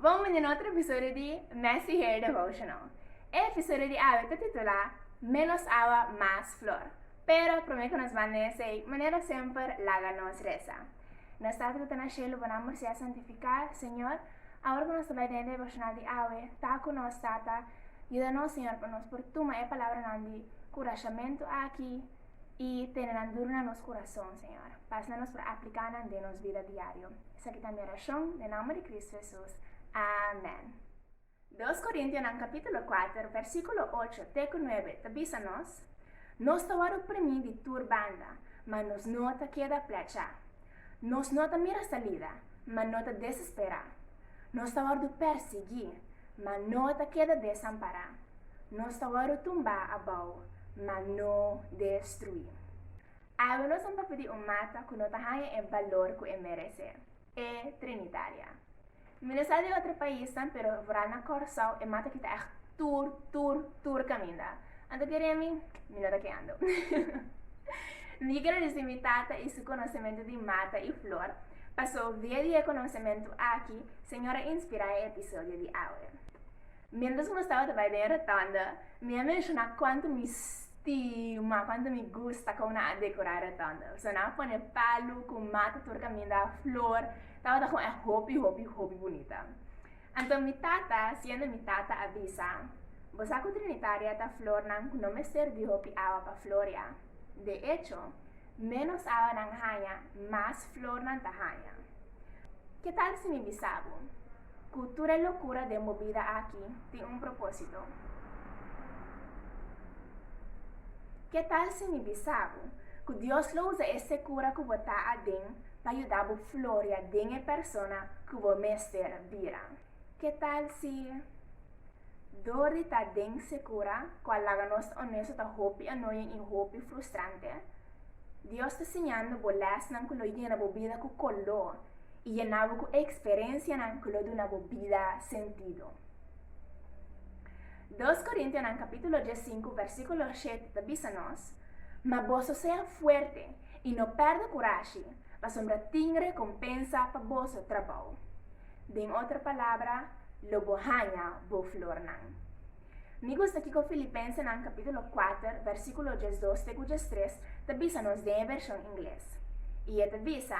Bon bini na otro episodio di Messy Hair Devotional. E episodio di awe ta titulá Menos awa, mas flor. Pero promé ku nos banda esei, manera semper, laga nos resa. Nos Tata ku ta na shelu, Bo Nòmber Sea Santifiká, Señor, awor ku nos ta bai den e devoshonal di awe, ta ku nos, Tata. Yuda nos, Señor, pa nos por tuma e palabranan di kurashamentu aki, I tene nan dur na nos kurason, Señor. Pas na nos por apliká nan den nos bida diario. Esaki ta mi orashon, den nòmber di Kristu Hesus. Amèn. Dos Korintianan kapítulo kuater, vèrsikulo ocho te ku nuebe ta bisa nos, Nos ta wòrdu oprimí di tur banda, ma nos no ta keda plèchá. Nos no ta mira salida, ma no ta desesperá. Nos ta wòrdu pèrsiguí, ma no ta keda desampará. Nos ta wòrdu tumbá abou, ma no destruí. Awe nos a papia di un mata ku no ta haña e balor ku e meresé, e Trinitaria. Mi no sa di otro paisnan, pero foral na Kòrsou e mata ki ta ègt tur, tur, tur kaminda. Anto ke remi, mi no ta keando. Mi ke keda disi mi tata i su konosementu di mata i flor, paso via di e konosementu aki Señor a inspirá e episodio di awe. Mientras cu nos taba ta bai den e rotunda, mi a menciona cuanto mi stima, cuanto mi gusta con nan a decora e rotunda. Persoa nan a pone palu cu mata tur caminda, flor, tabata con e hopi, hopi, hopi bunita. Anto mi tata, siendo mi tata, a bisa, Bo sa cu Trinitaria ta flornan cu no mester di hopi awa pa floria. De echo, menos awa nan haya, mas flor nan ta haya. Ke tal si mi bisa bo? Ku tur e lokura den bo bida aki tin un propósito? Ke tal si mi bisa bo ku Dios lo usa e sekura ku bo ta aden pa yuda bo floria den e persona ku bo mester bira? Ke tal si dor di ta den sekura ku a laga nos onesto ta hopi anoyin i hopi frustrante? Dios ta siñando bo lèsnan ku lo yena bo bida ku koló. I yena bo ku eksperensianan ku lo duna bo bida sentido. Dos Korintianan kapítulo dies sinku vèrsikulo shet ta bisa nos, Ma boso sea fuerte i no pèrdè kurashi, pasobra tin rekompensa pa boso trabou. Den otro palabra, lo bo haña bo flornan. Mi gusta kiko Filipensenan kapítulo kuater vèrsikulo diesdos te ku diestres ta bisa nos den e vershon ingles. I e ta bisa,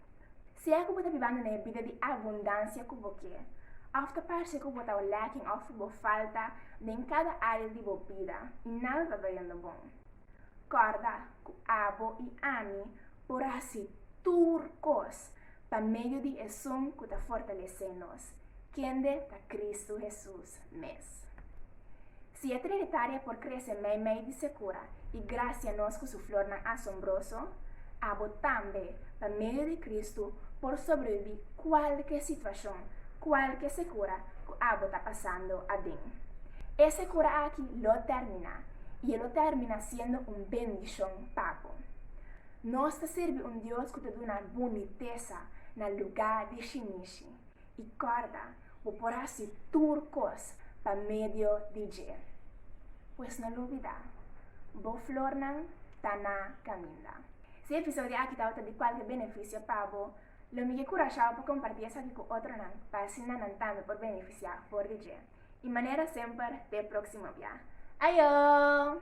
Si es ku bo ta bibando na e bida di abundansia ku bo ke, òf ta parse ku bo ta lacking òf ku bo falta den kada área di bo bida i nada ta ta yendo bon, kòrda ku abo i ami por hasi tur kos pa medio di esun ku ta fortalesé nos, kende ta Kristu Hesus mes. Si e Trinitaria por krese meimei di sekura i grasia nos ku su flornan asombroso, abo tambe, pa medio di Kristu, por sobrebibí kualke situashon, kualke sekura ku abo ta pasando aden. E sekura aki lo tèrmina, i e lo tèrmina siendo un bendishon pa bo. Nos ta sirbi un Dios ku ta duna bunitesa na lugá di shinishi. I kòrda, Bo por hasi tur kos pa medio di dje. Pues no lubida, bo flornan ta na kaminda. Si e episodio aki tabata di kualke benefisio pa bo, lo mi ke kurashá bo pa kompartí esaki ku otronan pa asina nan tambe por benefisiá for di dje. I manera semper, ta e próksimo bia. Ayo!